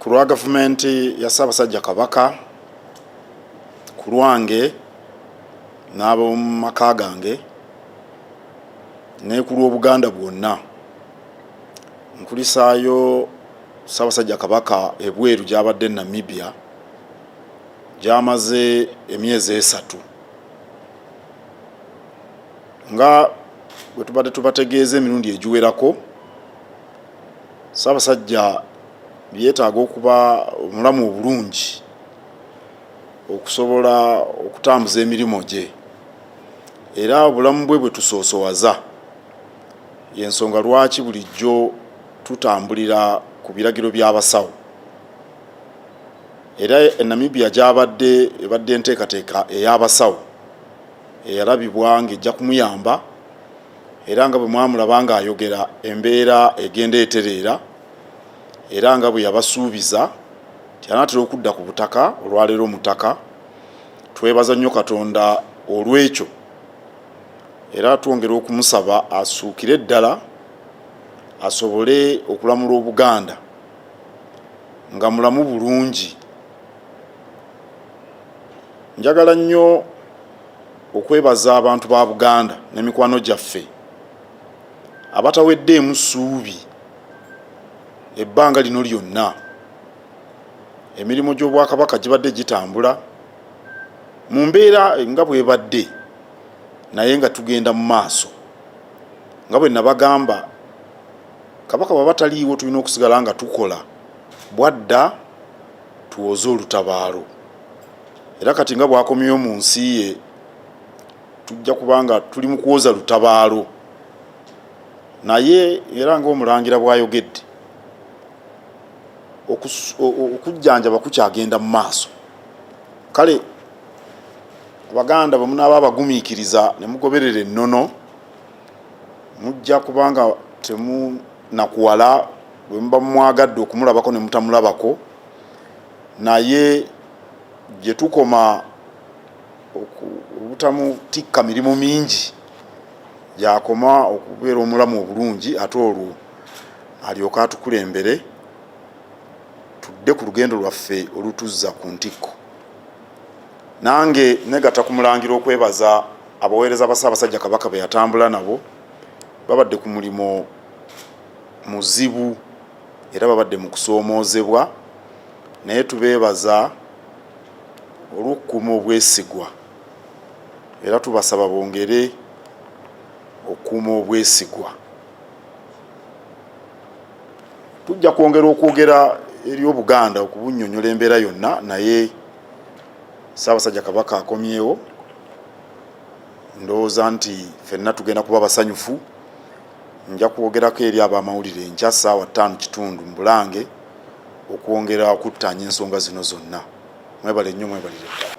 ku lwa gavumenti ya ssaabasajja kabaka ku lwange n'ab'omu maka gange ne ku lw'obuganda bwonna nkulisaayo Ssaabasajja Kabaka ebweru gy'abadde Namibia gy'amaze emyezi esatu nga bwe tubadde tubategeeza emirundi egiwerako Ssaabasajja yeetaaga okuba omulamu obulungi okusobola okutambuza emirimu gye era obulamu bwe bwe tusoosowaza yensonga lwaki bulijjo tutambulira ku biragiro by'abasawo era enamibia gyabadde ebadde enteekateeka ey'abasawo eyalabibwa ng'ejja kumuyamba era nga bwe mwamulaba ng'ayogera embeera egenda etereera era nga bwe yabasuubiza nti anaatera okudda ku butaka olwaleero mutaka twebaza nnyo katonda olw'ekyo era twongera okumusaba asuukire ddala asobole okulamula obuganda nga mulamu bulungi njagala nnyo okwebaza abantu ba buganda ne mikwano gyaffe abataweddeemu ssuubi ebbanga lino lyonna emirimu gy'obwakabaka gibadde gitambula mu mbeera nga bwebadde naye nga tugenda mu maaso nga bwe nabagamba kabaka bwaba taliiwo tulina okusigala nga tukola bwadda tuwoze olutabaalo era kati nga bwakomyeyo mu nsi ye tujja kuba nga tuli mu kuwoza lutabaalo naye era ngaomulangira bwayogedde okujjanjaba kukyagenda mu maaso kale abaganda bwe munaaba abagumiikiriza ne mugoberera ennono mujja kubanga temunakuwala bwe muba mumwagadde okumulabako ne mutamulabako naye gye tukoma obutamutikka mirimu mingi gyakoma okubeera omulamu obulungi ate olwo alyoke atukulembere tudde ku lugendo lwaffe olutuzza ku ntikko nange negata ku mulangira okwebaza abaweereza ba ssaabasajja kabaka be yatambula nabo babadde ku mulimu muzibu era babadde mu kusoomoozebwa naye tubeebaza olw'okukuuma obwesigwa era tubasaba bongere okukuuma obwesigwa tujja kwongera okwogera eri obuganda okubunyonyola embeera yonna naye ssaabasajja kabaka akomyewo ndowooza nti fenna tugenda kuba basanyufu nja kwogerako eri abamawulire nkya ssaawa ttaano kitundu mu bulange okwongera okuttaanya ensonga zino zonna mwebale nnyo mwebalire ddala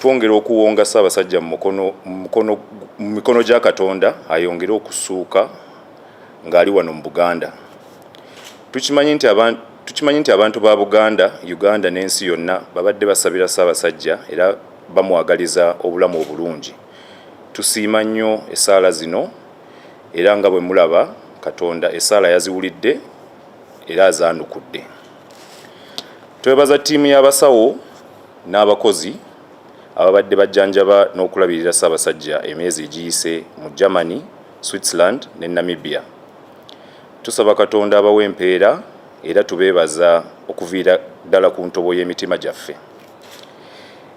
twongera okuwonga Ssaabasajja mu mikono gya Katonda ayongere okusuuka ng'ali wano mu Buganda. Tukimanyi nti abantu ba Buganda, Uganda n'ensi yonna babadde basabira Ssaabasajja era bamwagaliza obulamu obulungi. Tusiima nnyo essaala zino era nga bwe mulaba Katonda essaala yaziwulidde era azaanukudde. Twebaza ttiimu y'abasawo n'abakozi ababadde bajjanjaba n'okulabirira Ssaabasajja emyezi egiyise mu Germany, Switzerland ne Namibia. Tusaba Katonda abawe empeera era tubeebaza okuviira ddala ku ntobo y'emitima gyaffe.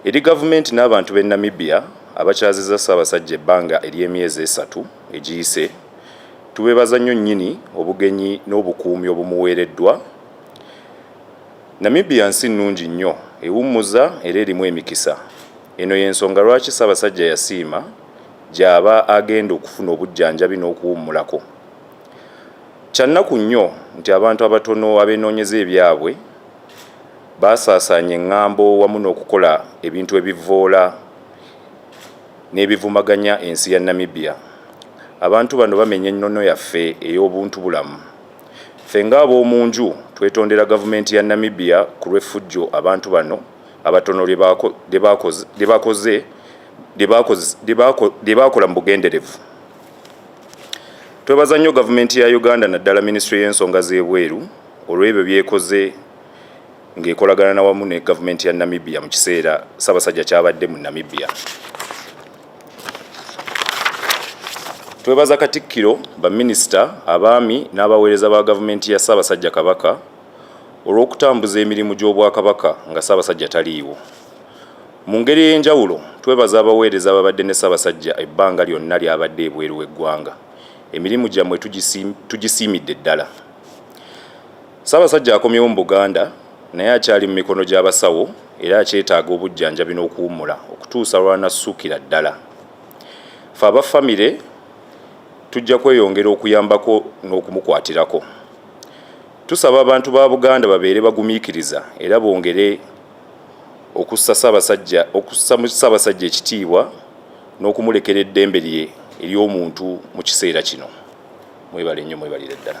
Eri gavumenti n'abantu b'e Namibia abakyazizza Ssaabasajja ebbanga ery'emyezi esatu egiyise, tubeebaza nnyo nnyini obugenyi n'obukuumi obumuweereddwa Namibia nsi nnungi nnyo, ewummuza era erimu emikisa. Eno y'ensonga lwaki Ssabasajja yasiima gy'aba agenda okufuna obujjanjabi n'okuwummulako. Kya nnaku nnyo nti abantu abatono abenoonyeza ebyabwe baasaasaanya engambo wamu n'okukola ebintu ebivvoola n'ebivumaganya ensi ya Namibia. Abantu bano bamenya ennono yaffe ey'obuntubulamu. Ffe nga ab'omu nju twetondera Gavumenti ya Namibia ku lw'effujjo abantu bano abatono lye baakola mu bugenderevu. Twebaza nnyo Gavumenti ya Uganda naddala Minisitule y'ensonga z'ebweru olw'ebyo by'ekoze ng'ekolagana wamu ne Gavumenti ya Namibia mu kiseera Ssaabasajja ky'abadde mu Namibia. twebaza katikkiro baminisita abaami n'abaweereza ba gavumenti ya ssaabasajja kabaka olw'okutambuza emirimu gy'obwakabaka nga ssaabasajja taliiwo mu ngeri ey'enjawulo twebaza abaweereza ababadde ne ssaabasajja ebbanga lyonna lyabadde ebweru w'eggwanga emirimu gyammwe tugisiimidde ddala ssaabasajja akomyewo mu buganda naye akyali mu mikono gy'abasawo era kyetaaga obujjanjabi n'okuwummula okutuusa lw'anassukira ddala. Ffe aba famire tujja kweyongera okuyambako n'okumukwatirako. Tusaba abantu ba Buganda babeere bagumiikiriza era bongere okussa Ssaabasajja okussa mu Ssaabasajja ekitiibwa n'okumulekera eddembe lye ery'omuntu mu kiseera kino. Mwebale nnyo mwebalire ddala.